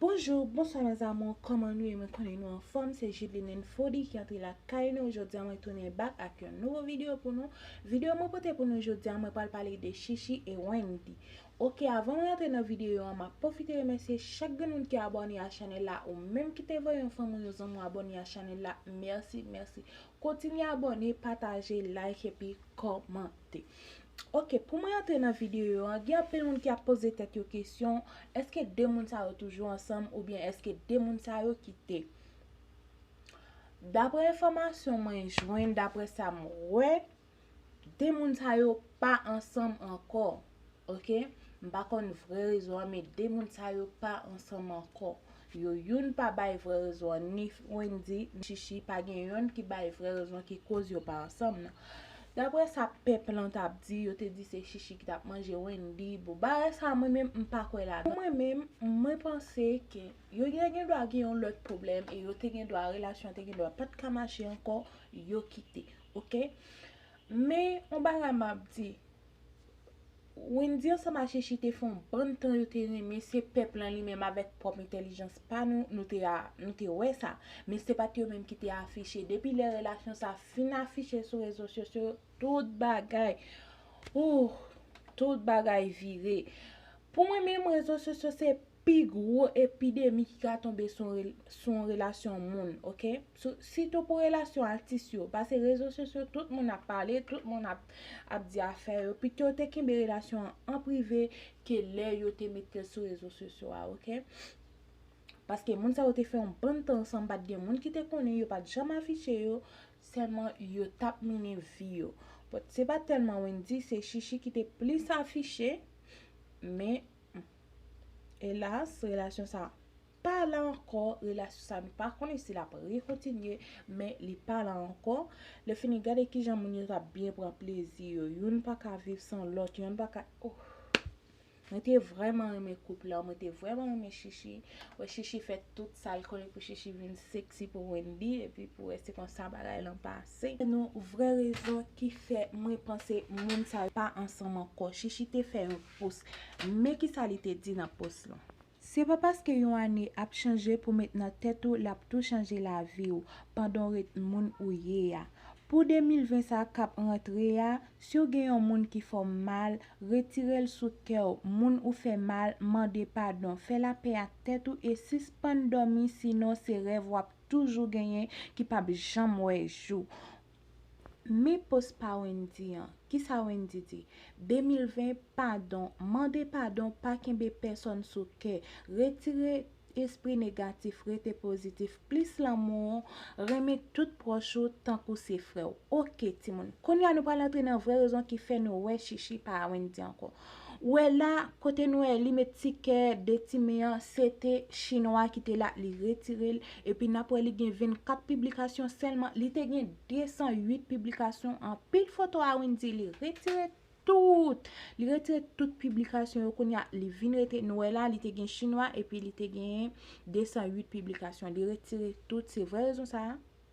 Bonjour, bonswa mes amours kòman nou ye mwen konnen nou anfòm se Judeline Fody ki antre lakay nou jodia mwen tounen back ak yon nouvo video pou nou video mwen pote pou nou jodia mwen pral pale de Chichi et Wendy ok avan mwen antre nan video an map pwofite remèsye chak grenn moun ki abòne a chanèl la ou menm ki te voye yon fanmi w yon zanmi w abòne a chanèl la merci merci kontinye abòne pataje like epi kòmante. Ok pou mwen antre nan videyo an gen anpil moun ki ap poze tèt yo kesyon eske 2 moun sa yo toujou ansanm oubyen eske 2 moun sa yo kite Daprè enfòmasyon mwen jwenn daprè sa m wè 2 moun sa yo pa ansanm ankò. ok m pa konn vrè rezon an men 2 moun sa yo pa ansanm ankò yo youn pa bay vrè rezon an ni Wendy ni Chichi pa gen yonn ki bay vrè rezon ki koz yo pa ansanm nan daprè sa pèp lan tap di yo te di se Chichi ki tap manje Wendy bon bagay sa mwen menm m pa kwè ladan pou mwen menm mwen panse ke yo te gen dwa gen yon lòt pwoblèm e yo te gen dwa relasyon an te gen dwa pat ka mache ankò yo kite ok men yon bagay map di. Wendy ansanm a Sheshy te fon bann tan yo te renmen se pèp lan li menm avèk pwòp entèlijans pa nou nou te a nou te wè sa men se pat yo menm ki te afiche depi lè relasyon sa fin afiche sou rezo sosyo tout bagay ooh tout bagay vire pou mwen menm rezo sosyo se Pi gwo epidemi ki ka tonbe sou yon relasyon moun ok sitou pou relasyon atis yo pase rezo sosyo tout moun ap pale tout moun ap di afè yo pito yo te kenbe relasyon an an prive ke lè yo te metel sou rezo sosyo a ok paske moun sa yo te fè yon bann tan ansanm pat gen moun ki te konnen yo pat janm afiche yo sèlman yo tap mennen vi yo but se pat tèlman Wendy se Chichi ki te plis afiche men. Elas relasyon sa pa la ankò relasyon sa nou pa konnen si lap re kontinye men li pa la ankò lè fini gade kijan moun yo tap byen pran plezi yo youn pa ka viv san lòt youn pa ka ohh mwen te vrèman renmen koup la mwen te vrèman renmen Shishi wè Shishi fè tout sal konnen pou Shishi vin sexy pou Wendy epi pou wè se konsa bagay lan pase nou vrè rezon ki fè mwen panse moun sa yo pa ansanm ankò Shishi te fè yon Pous. Men ki sa li te di nan pous lan. Se pa paske yon ane ap chanje pou met nan tèt ou l ap tou chanje lavi w pandan w ret moun ou ye a. Pou 2020 sa k ap rantre a, si w gen yon moun ki fè w mal, retire l sou kè w, moun ou fè mal, mande padon, fè lapè ak tèt ou e sispann dòmi sinon se rèv w ap toujou genyen ki p ap janm wè jou. Men post pa Wendy an. Kisa Wendy di? 2020 padon, mande padon pa kenbe pèsòn sou kè, retire espri negatif rete pozitif plis lanmou ou renmen tout pwòch ou tankou se frèw ok timoun kounya nou pral antre nan vrè rezon ki fè nou wè chichi pa a Wendy ankò Ou wè la, kote nou wè li met ti kè de ti men an, se te chinwa ki te la, li retire l, epi n ap wè li gen 24 piblikasyon sèlman, li te gen 208 piblikasyon, anpil foto a Wendyy, li retire tout, li retire tout piblikasyon yo, kounye a li vin rete, nou wè la li te gen chinwa epi li te gen 208 piblikasyon, li retire tout, se vrè rezon sa a?